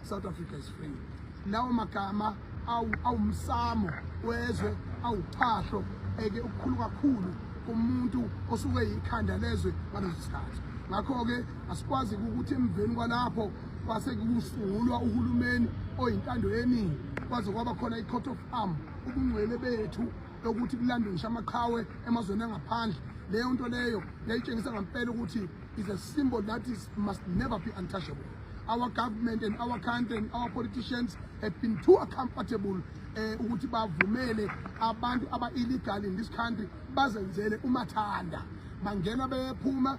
South Africa is free. Lawo magama awumsamo wezwe awuphahlo eke ukukhulu kakhulu kumuntu osuke yikhanda lezwe ngaleso sikhathi ngakho-ke Asikwazi ukuthi emveni kwalapho kwase kusungulwa uhulumeni oyintando yeningi kwaze kwaba khona i-court of arm ubungcwele bethu lokuthi kulandwe ngisho amaqhawe emazweni angaphandle leyo nto leyo yayitshengisa ngampela ukuthi is a symbol that is must never be untouchable our government and our country and our politicians have been too comfortable eh ukuthi bavumele abantu aba illegal in this country bazenzele umathanda bangena bephuma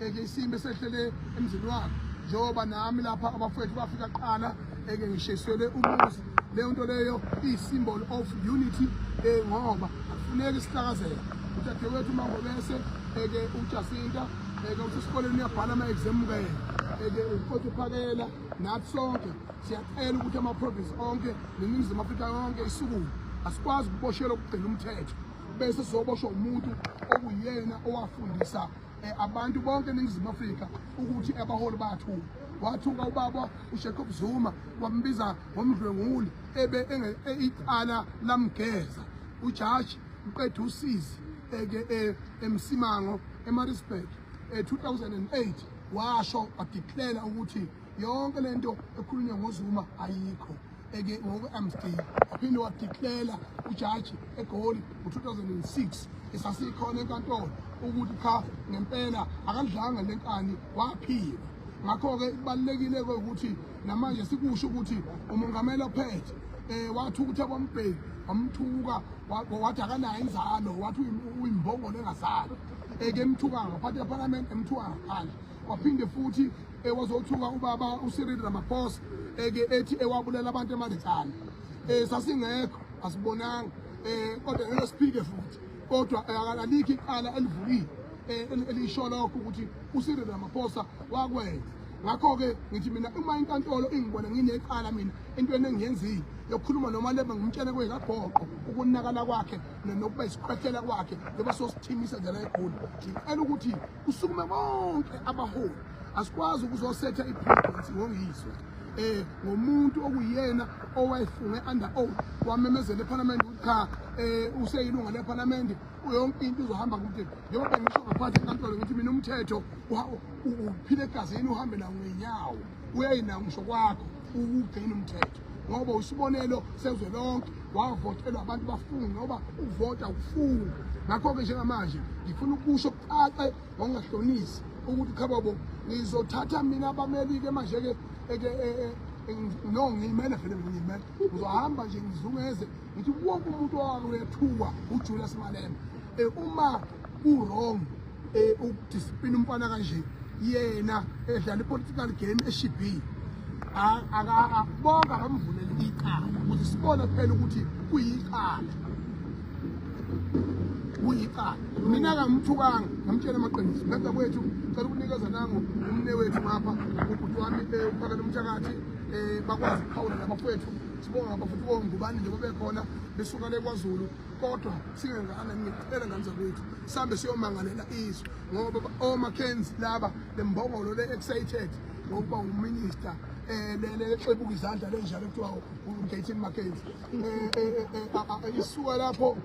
eke isimo esehlele emzini wakhe njengoba nami lapha abafowethu bafika kuqala eke ngisheselwe umuzi leyo nto leyo iyi-symbol of unity um ngoba akufuneki sihlakazela udadewethu umangobese eke ujasinta eke usesikoleni uyabhala ama-exam kayena eke uqotha uphakela nathi sonke siyacela ukuthi ama-province onke neningizimu afrika yonke isukume asikwazi ukuboshelwa ukugcina umthetho bese sizoboshwa umuntu okuyena owafundisa eh, abantu bonke eningizimu afrika ukuthi abaholi bayathuka wathuka ubaba ushecob zuma wambiza ngomdlwenguli ebe e, icala lamgeza ujaji uqeda usizi eke e, emsimango emarisburg e-2008 washo wadeclara ukuthi yonke lento ekhulunywa ngozuma ayikho eke ngoku-amsdale waphinde wadiklela ujaji egoli ngo-2006 esasikhona enkantolo ukuthi cha ngempela akadlanga le nkani waphila ngakho-ke kubalulekile ke ukuthi namanje sikusho ukuthi umongameli ophethe eh wathi ukuthi abambheki wamthuka wathi akanayo inzalo wathi uyimbongolo engazalo ekemthuka ngaphansi ephalamende emthuka ngaphandle waphinde futhi ewazothuka eh, ubaba uCyril Ramaphosa eke eh, ethi ewabulela eh, abantu eManditsane eh sasingekho asibonanga eh kodwa ngeke siphike futhi kodwa akalikho iqala elivulile elisho lokho ukuthi uCyril Ramaphosa wakwenza ngakho-ke ngithi mina uma inkantolo ingibona ngineqala mina entweni engiyenzile yokukhuluma noma leba ngimtshele kwekagoqo ukunakala kwakhe nokuba isikhwehlela kwakhe leba sosithimisa njela egoli ngicela ukuthi kusukume bonke abaholi asikwazi ukuzosetha ipresidency ngongizwe eh ngomuntu okuyena owayefunge under oath wamemezela eParliament ukuthi cha eh useyilunga leParliament yonke into izohamba kude njengoba ngisho ngaphansi enkantolo ngithi mina umthetho uphile egazini uhambe nawo ngenyawo uyayina ngisho kwakho ukugena umthetho ngoba usibonelo sezwe lonke wavotelwa abantu bafunga ngoba ukuvota ukufunga ngakho-ke njengamanje ngifuna ukusho kucace ngokungahlonisi ukuthi khababo ngizothatha mina abameli-ke manje-ke e, e, no ngiyimele vele mina ngiyimele ngizohamba nje ngizungeze ngithi wonke umuntu owake wethukwa ujulius malema um uma ku-wrong eh, ukudiscipline umfana kanje yena edlala i-political game eshibhile bonke akamvuleli icala ukuthi sibone phela ukuthi kuyicala kuyicala mina kamthukanga ngamtshela amaqiniso beza kwethu cela ukunikeza nangu umne wethu ngapha ubhuti wami eh, uphakela umthakathi um eh, bakwazi ukuphawula nabafowethu sibonga abafowethu bongubani njengoba bekhona besuka le kwazulu kodwa singengane ngicela ngane zakwethu sambe siyomangalela izwe ngoba oMackenzie laba lembongolo le excited ngokuba uminister eh lele exebuka izandla lenjalo kuthiwa uGatin Mackenzie eh, eh, eh, isuka lapho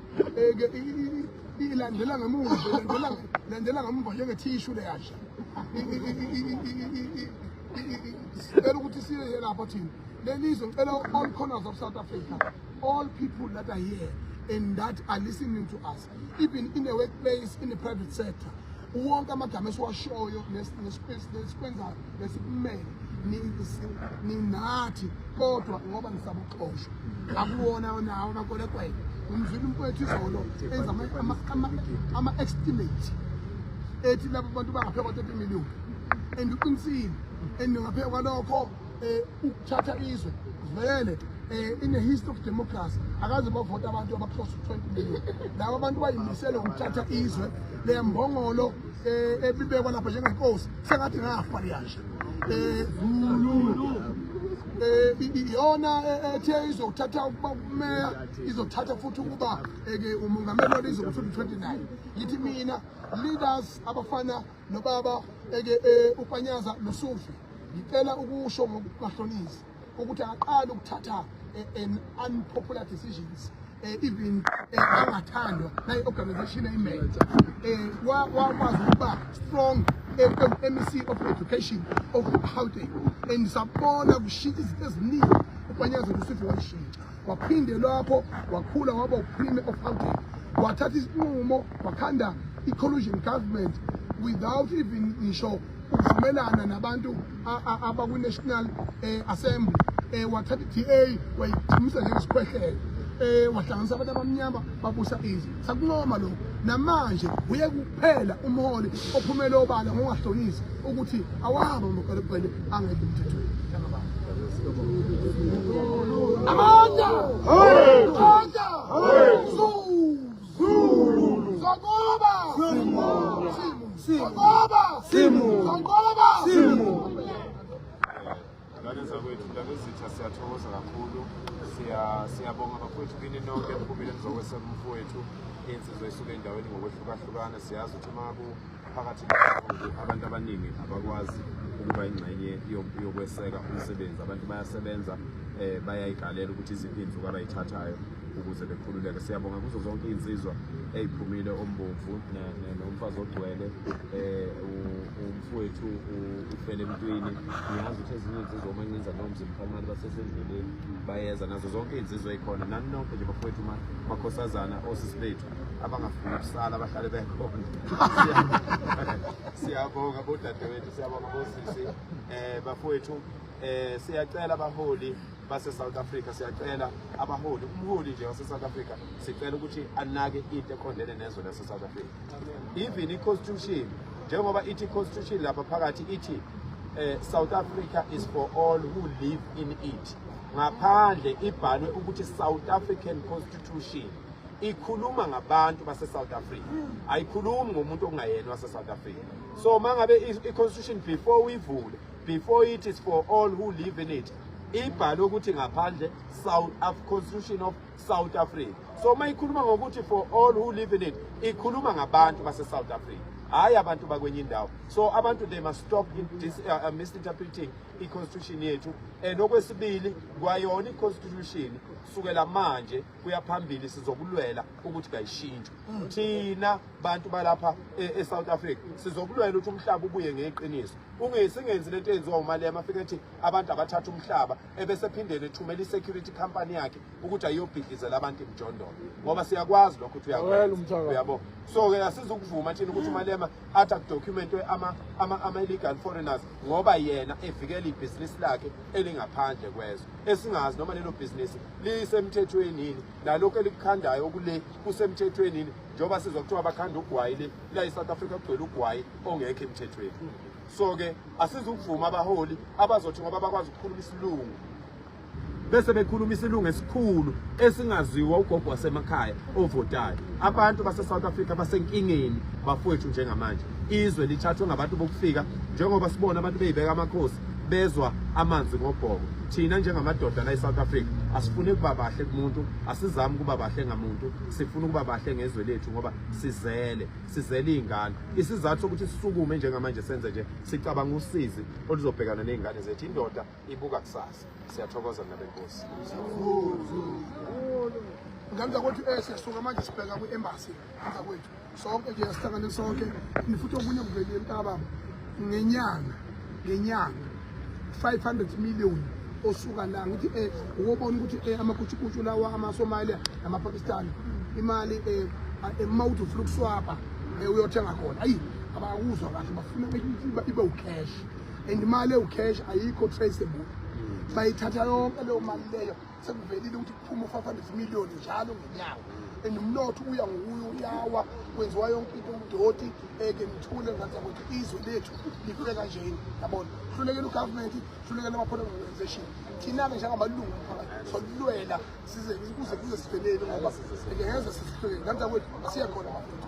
ilandela ngemuva ilandela landela ngemuva njenge tissue le yasha sicela ukuthi siye lapha thina lelizwe ngicela all corners of South Africa All people that are here and that are listening to us, even in the workplace, in the private sector, wonke amagama esiwashoyo nesikwenzayo nesikumele ninathi kodwa ngoba ngisabuxosha akuwona nawo amakwelekwele umzwile umfowethu izolo enza ama-estimate ethi labo bantu bangaphekwa 30 million and uqinisile and ngaphekwa lokho um ukuthatha izwe vele um in a history of democracy akaze bavota abantu abaclose to twenty million laba abantu bayimisele ukuthatha izwe le mbongolo um eh, ebibekwa lapha njengenkosi sengathi ngafa liyasho um iyona ethe izothatha ukuba kumeya izothatha futhi ukuba ke umungameli walizwe ngo-2029 yithi mina leaders abafana nobaba eke eh, upanyaza nosufi ngicela ukusho ngokubahlonisa ukuthi aqale ukuthatha eh, an unpopular decisions eh, even angathandwa nayi organization ayimenye wakwazi ukuba strong MEC of Education of Gauteng and sabona kushintsha izinto eziningi upanyaza nosufi wayishintsha waphinde lapho wakhula waba uprime of Gauteng wathatha isinqumo wakhanda i-collusion government without even ngisho ukuvumelana nabantu abakwi-national eh, assembly eh, wathatha i-da wayithimisa njengesikhwehlelo um wahlanganisa abantu abamnyama babusa izwe sakuncoma lokhu namanje uye phela umholi ophumele obala ngongahlonisi ukuthi awabo amagalebhele angekho emthethweni amandla amandla sokuba simo simo sokuba simo sokuba simo Ngane zakwethu mntanezitha siyathokoza kakhulu siyabonga bafowethu kini nonke niphumile nizokweseka umfowethu insizwa isuke endaweni ngokwehlukahlukana siyazi ukuthi uma kuphakathi abantu abaningi abakwazi ukuba ingxenye yokweseka umsebenzi abantu bayasebenza um bayayidlalela ukuthi iziphi iy'nsuku abayithathayo ukuze bekhululeke siyabonga kuzo zonke iy'nsizwa ey'phumile ombomvu nomfazi ogcwele um mfowethu ufele emntwini ngiyazi ukuthi ezinye iy'nsizwa uma nginza noma mzimkhalimali basesendleleni bayeza nazo zonke iy'nsizwa ey'khona nani nonke nje bafowethu makhosazana osisi bethu abangafuni ukusala bahlale bekhona siyabonga bodadewethu siyabonga bosisi um bafowethu um siyacela abaholi base South Africa siyacela abaholi umholi nje wase South Africa sicela ukuthi anake into eqondene nezwe lase South Africa even i constitution njengoba ithi constitution lapha phakathi ithi eh, South Africa is for all who live in it ngaphandle ibhalwe ukuthi South African constitution ikhuluma ngabantu base South Africa ayikhulumi ngomuntu ongayena wase South Africa so mangabe i constitution before uyivule before it is for all who live in it ibhalwe ukuthi ngaphandle south of constitution of south africa so uma ikhuluma ngokuthi for all who live in it ikhuluma ngabantu base-south africa hhayi abantu bakwenye indawo so abantu they must stop this, uh, uh, misinterpreting i-constitution yethu and okwesibili kwayona i-constitution kusukela manje kuya phambili sizokulwela ukuthi kayishintshwe mm. thina bantu balapha e-south e africa sizokulwela ukuthi umhlaba ubuye ngeqiniso ungesingenzi lento eyenziwa umalema afike ethi abantu abathatha umhlaba ebesephindele ethumela i-security company yakhe ukuthi ayiyobhidlizela abantu imjondolo ngoba siyakwazi lokho ukuthi uyabo so-ke asizukuvuma thina ukuthi umalema athi akudocumentwe ama-illegal foreigners ngoba yena evikela ibhizinisi lakhe elingaphandle kwezwe esingazi noma lelo bhizinisi lisemthethweni yini nalokhu elikukhandayo okule kusemthethweni yini njengoba sizwa kuthiwa bakhanda ugwayi le la i-south africa kugcwele ugwayi ongekho emthethweni so ke asizukuvuma abaholi abazothi ngoba bakwazi ukukhuluma isilungu bese bekhuluma isilungu esikhulu esingaziwa ugogo wasemakhaya ovotayo abantu base-south africa basenkingeni bafowethu njengamanje izwe lithathwe ngabantu bokufika njengoba sibona abantu beyibeka amakhosi bezwa amanzi ngobhoko thina njengamadoda la e-south africa asifuni ukuba bahle kumuntu asizami ukuba bahle ngamuntu sifuna ukuba bahle ngezwe lethu ngoba sizele sizele iy'ngane isizathu sokuthi sisukume njengamanje senze nje sicabanga usizi oluzobhekana ney'ngane zethu indoda ibuka kusasa siyathokoza mna benkosi ngamza kwethu um eh, siyasuka manje sibheka kwi-embasi ngamza kwethu sonke nje sihlangane sonke nifuthi okunye kuvelile mntakababa ngenyanga ngenyanga 500 million osuka la ngithi eh ukubona ukuthi eh amakutshukutshu lawa amaSomalia namaPakistan imali eh emouth of lukuswapa eh, uyothenga khona ayi abakuzwa kahle bafuna ibe ucash and imali ewucash ayikho traceable bayithatha yonke leyo mali leyo sekuvelile ukuthi kuphuma u-500 million njalo ngenyanga and umnotho uya ngokuye uyawa kwenziwa yonke into umdoti eke nithule ngazaa ukuthi izwe lethu lifike kanjeni yabona hlulekele ugovernment hlulekele ama-political organization thina-ke njengamalungu omphakathi solulwela size kuze kuze sivelele ngoba eke ngeze sisihlulekele ngazaa kwethu asiye khona mafethu